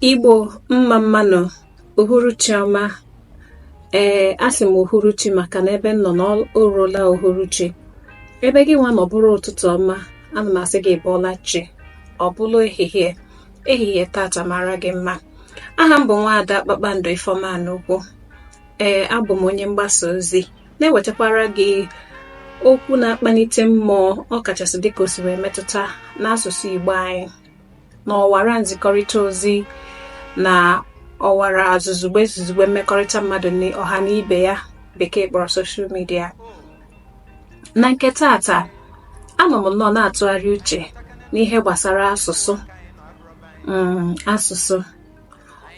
Igbo mma mmanụ uhuruchi ọma ee asị m uhuruchi maka na ebe m nọ na o ruola uhuruchi ebe gị nwa nọ bụrụ ụtụtụ ọma ana m asị gị bọọla chi ọ bụ na ehihie ehihie tata mara gị mma aha m bụ nwaada Kpakpando Ifeoma n'ugwu ee abụ m onye mgbasa ozi na-ewetakwara gị okwu na-akpalite mmụọ ọ kachasị dịka o si wee metụta n'asụsụ Igbo anyị na ọwara nzikọrịta ozi na ọwara zuzugbe zuzugbe mmekọrịta mmadụ na ọha na ibe ya bekee kpọrọ social media na nke tata anọ m nnọọ na-atụgharị uche n'ihe gbasara asụsụ mm, asụsụ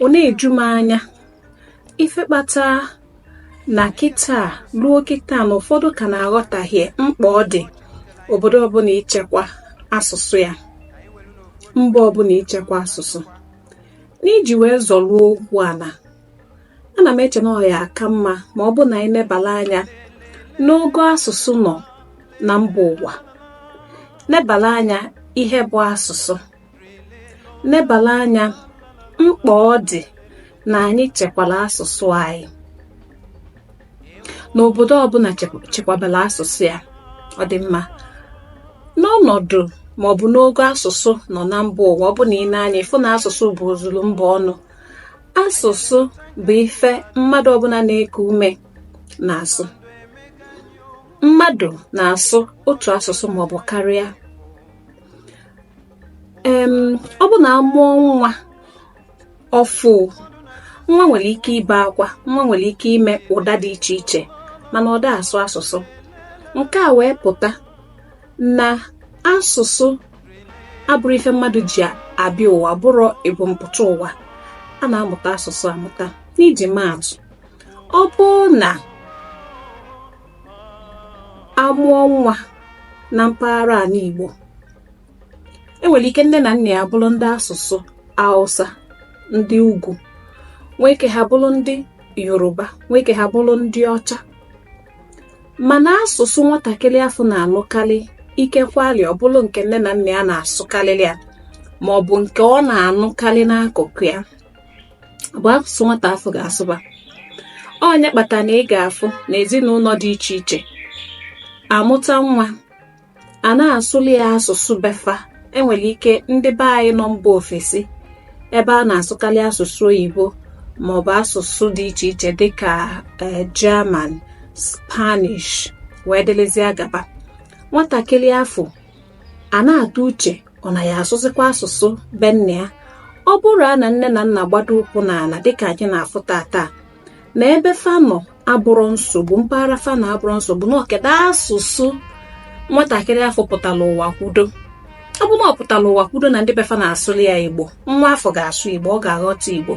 ọ na-eju m anya ife kpata na kịta ruo kịta na ụfọdụ ka na-aghọtahie mkpa ọ dị obodo ọbụla ichekwa asụsụ ya mba ọbụla ichekwa asụsụ n'iji wee zọruo okwu ana ana m eche na ọ ya aka mma ma ọ bụ na anyị nebala anya n'ogo asụsụ nọ na mba ụwa nebala anya ihe bụ asụsụ nebala anya mkpa ọ dị na anyị chekwara asụsụ anyị na obodo ọbụla chekwabara asụsụ ya ọ dị mma n'ọnọdụ ma ọ bụ n'ogo asụsụ nọ na mba ụwa ọ bụ na i nee anya ị fụ na asụsụ bụ ozuru mba ọnụ asụsụ bụ ife mmadụ ọbụla na-eku ume na-asụ mmadụ na-asụ otu asụsụ maọbụ karịa ọ bụ na a mụọ nwa ọfụ nwa nwere ike ibe akwa nwa nwere ike ime ụda dị iche iche mana ọ da asụ asụsụ nke a wee pụta na asụsụ abụrọ ife mmadụ ji abịa ụwa bụrọ ebumpụta ụwa a na-amụta asụsụ amụta n'iji maatụ ọ bụ na a mụọ nwa na mpaghara ala Igbo e nwere ike nne na nna ya bụrụ ndị asụsụ Hausa ndị ugwu nwee ike ha bụrụ ndị Yoruba nwee ike ha bụrụ ndị ọcha mana asụsụ nwatakịrị afụ na-anụkarị ikekwali ọ bụrụ nke nne na nna ya na-asụkarịrị ya ma ọ bụ nke ọ na-anụkarị n'akụkụ ya bụ asụsụ nwata afụ ga-asụba ọ nya kpata na ị ga-afụ na ezinụlọ dị iche iche a mụta nwa a na-asụlị ya asụsụ be fa e nwere ike ndị be anyị nọ mba ofesi ebe a na-asụkarị asụsụ oyibo maọbụ asụsụ dị iche iche dịka eh, German Spanish wee dịlịzịa gaba nwatakịrị afụ a na-atụ uche ọ na ya asụzikwa asụsụ be nna ya ọ bụrụ a na nne na nna gbado ụkwụ n'ala dịka anyị na-afụ tata na ebe fa nọ abụrọ nsogbu mpaghara fa nọ abụrọ nsogbu na ọ kedụ asụsụ nwatakịrị afụ pụtara ụwa kwudo ọ bụ na ọ pụtara ụwa kwudo na ndị be fa na-asụli ya igbo nwa afụ ga-asụ igbo ọ ga-aghọta igbo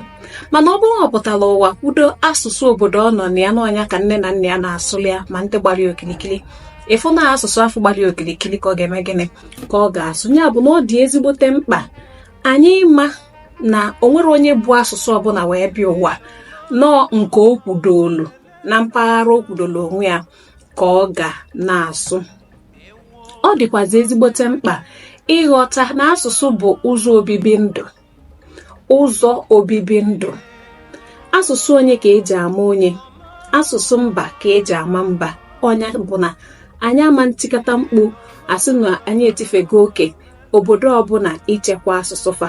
mana ọ bụrụ na ọ pụtara ụwa kwudo asụsụ obodo ọ nọ na ya na ọ nya ka nne na nna ya na-asụli ya ma ndị gbara ya okirikiri ị fụ na asụsụ afụ gbara okirikiri ka ọ ga-eme gịnị ka ọ ga-asụ ya bụ na ọ dị ezigbote mkpa anyị ma na o nwerọ onye bu asụsụ ọbụla wee bịa ụwa na ọ nke o kwudolu na mpaghara o kwudolu onwe ya ka ọ ga na-asụ ọ dịkwazi ezigbote mkpa ịghọta na asụsụ bụ ụzọ obibi ndụ ụzọ obibi ndụ asụsụ onye ka eji ama onye asụsụ mba ka eji ama mba ọ nya bụ na anyị ama ntikata mkpu a sị na anyị etifego oke obodo ọbụla ichekwa asụsụ fa